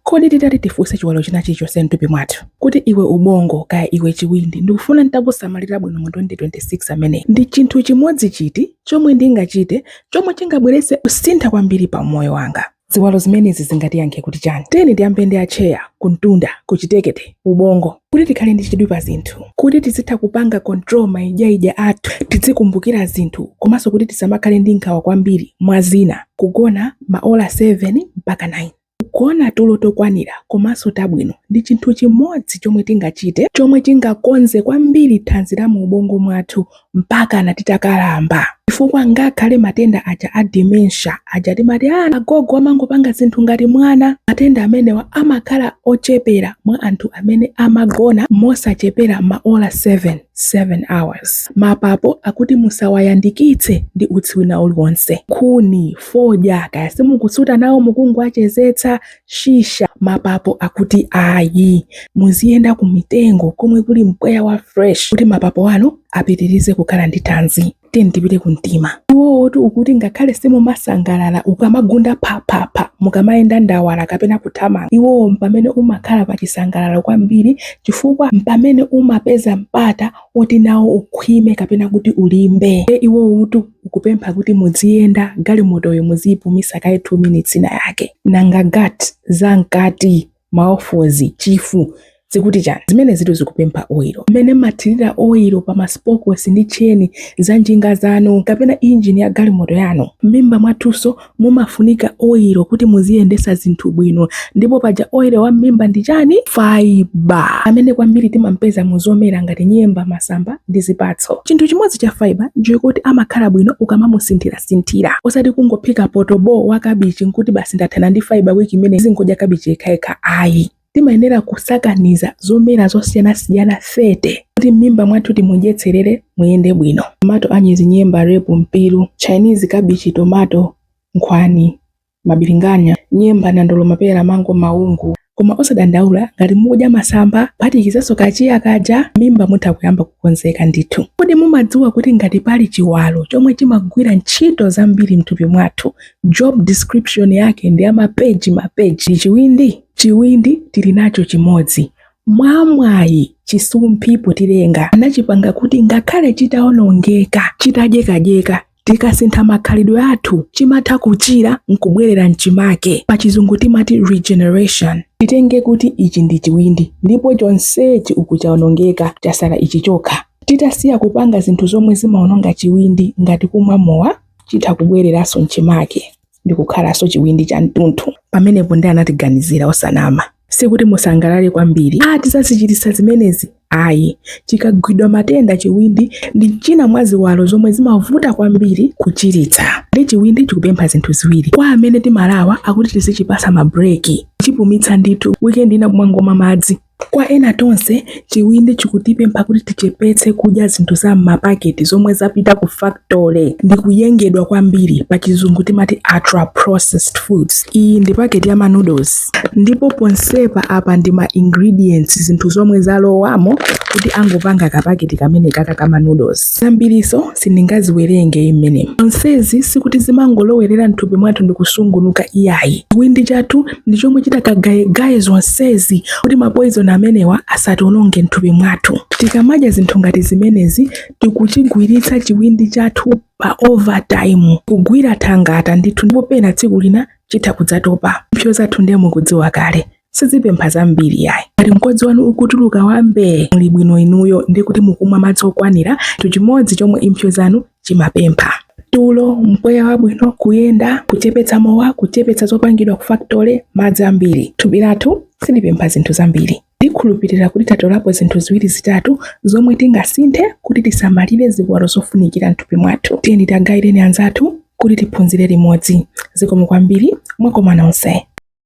Kodi titati tifunse chiwalo china chilichonse mthupi mwathu kuti iwe ubongo kaya iwe chiwindi ndikufuna nditakusamalira bwino mu 2026 ameneyi ndi chinthu chimodzi chiti chomwe ndingachite chomwe chingabweretse kusintha kwambiri pa umoyo wanga? Ziwalo zimenezi zingatiyankhe kuti chani? Tiyeni tiyambe ndi atcheya, kumtunda, kuchitekete, ubongo. Kuti tikhale ndi chidwi pa zinthu, kuti tizitha kupanga control maidyaidya athu, tidzikumbukira zinthu komanso kuti tisamakhale ndi nkhawa kwambiri mwa zina, kugona ma ola 7 mpaka 9. Kugona tulo tokwanira komanso tabwino ndi chinthu chimodzi chomwe tingachite chomwe chingakonze kwambiri thanzi la mu ubongo mwathu mpakana titakalamba. Chifukwa ngakhale matenda aja a dementia aja timati aah agogo amangopanga zinthu ngati mwana, matenda amenewa amakhala ochepera mwa anthu amene amagona mosachepera maola 7. 7 hours mapapo akuti musawayandikitse ndi utsi wina uliwonse nkhuni fodya kaya simukusuta nawo mukungowachezetsa shisha mapapo akuti ayi muziyenda ku mitengo komwe kuli mpweya wa fresh kuti mapapo anu apitirize kukhala ndi thanzi tiyeni tipite ku mtima iwotu ukuti ngakhale simumasangalala ukamagunda phaphapha mukamayenda ndawala kapena kuthamanga iwowo mpamene umakhala pa chisangalalo kwambiri chifukwa mpamene umapeza mpata woti nawo ukhwime kapena kuti ulimbe iwotu ukupempha kuti mudziyenda galimotoyo muziyipumisa kaye 2 minutes ina yake nanga gat za mkati maofozi chifu zikuti chani zimenezitu zikupempha oilo mmene mmathirira oilo pa maspokos ndi tcheni za njinga zanu kapena injini ya galimoto yanu m'mimba mwathunso mumafunika oilo kuti muziyendesa zinthu bwino ndipo paja oilo wa m'mimba ndi chani faiba amene kwambiri timampeza mu zomera ngati nyemba masamba ndi zipatso chinthu chimodzi cha faiba nchokuti amakhala bwino ukamamusintha sintha osati kungophika poto bo wa kabichi nkuti basi ndathana ndi fiber week imene ndizingodya kabichi yekhayekha ayi timayenera kusakaniza zomera zosiyanasiyana 30 kuti m'mimba mwathu timudyetserere muyende bwino tomato anyezi nyemba repu mpiru chinese kabichi tomato nkhwani mabilinganya, nyemba, nandolo, mapera, mango, maungu. Koma osadandaula ngati mukudya masamba kuphatikizanso ka chia kaja m'mimba mutha kuyamba kukonzeka ndithu. Kodi mumadziwa kuti ngati pali chiwalo chomwe chimagwira ntchito zambiri mthupi mwathu job description yake ndi ya mapeji mapeji ndi chiwindi? Chiwindi tili nacho chimodzi. Mwamwayi chisumphi potilenga anachipanga kuti ngakhale chitaonongeka chitadyekadyeka, Tikasintha makhalidwe athu chimatha kuchira nkubwerera mchimake. Pa chizungu timati regeneration. Titenge kuti ichi ndi chiwindi ndipo chonsechi uku chaonongeka chasala ichi chokha. Titasiya kupanga zinthu zomwe zimaononga chiwindi ngati kumwa mowa chitha kubwereranso mchimake. ndikukhalanso chiwindi cha mtundu. Pamenepo ndiye anatiganizira osanama. Sikuti musangalale kwambiri ati chizazichiritsa zimenezi ayi. Chikagwidwa matenda chiwindi ndi china mwa ziwalo zomwe zimavuta kwambiri kuchiritsa. Ndiye chiwindi chikupempha zinthu ziwiri kwa amene timalawa akuti tizichipasa mabreki kuchipumitsa ndithu weekend ina kumangomwa madzi Kwa ena tonse, chiwindi chikutipempha kuti tichepetse kudya zinthu za m'mapaketi zomwe zapita ku factory ndi kuyengedwa kwambiri, pachizungu timati ultra-processed foods. Iyi ndi paketi ya ma noodles, ndipo ponsepa apa ndi ma ingredients, zinthu zomwe zalowamo kuti angopanga ka paketi kamenekaka ka ma noodles. Zambirizo sindingaziwerenge mmenemu. Zonsezi sikuti zimangolowerera m'thupi mwathu ndikusungunuka iyayi. Chiwindi chathu ndi chomwe chitakagayegaye zonsezi kuti mapoizoni amenewa asationonge mthupi mwathu. Tikamadya zinthu ngati zimenezi tikuchigwiritsa chiwindi chathu pa overtime, kugwira thangata ndithu, ndipo pena tsiku lina chitha kudzatopa. Impsyo zathu ndiye mukudziwa kale sizipempha zambiri yayi ngati mkodzi wanu ukutuluka wa mbee muli bwino inuyo ndi kuti mukumwa madzi okwanira chinthu chimodzi chomwe impsyo zanu zimapempha tulo mpweya wabwino kuyenda kuchepetsa mowa kuchepetsa zopangidwa ku factory madzi ambiri thupi lathu silipempha zinthu zambiri ndikhulupirira kuti tatolapo zinthu ziwiri zitatu zomwe tingasinthe kuti tisamalire ziwalo zofunikira mthupi mwathu tiyeni tigaireni anzathu kuti tiphunzire limodzi zikomo kwambiri mwakoma nonse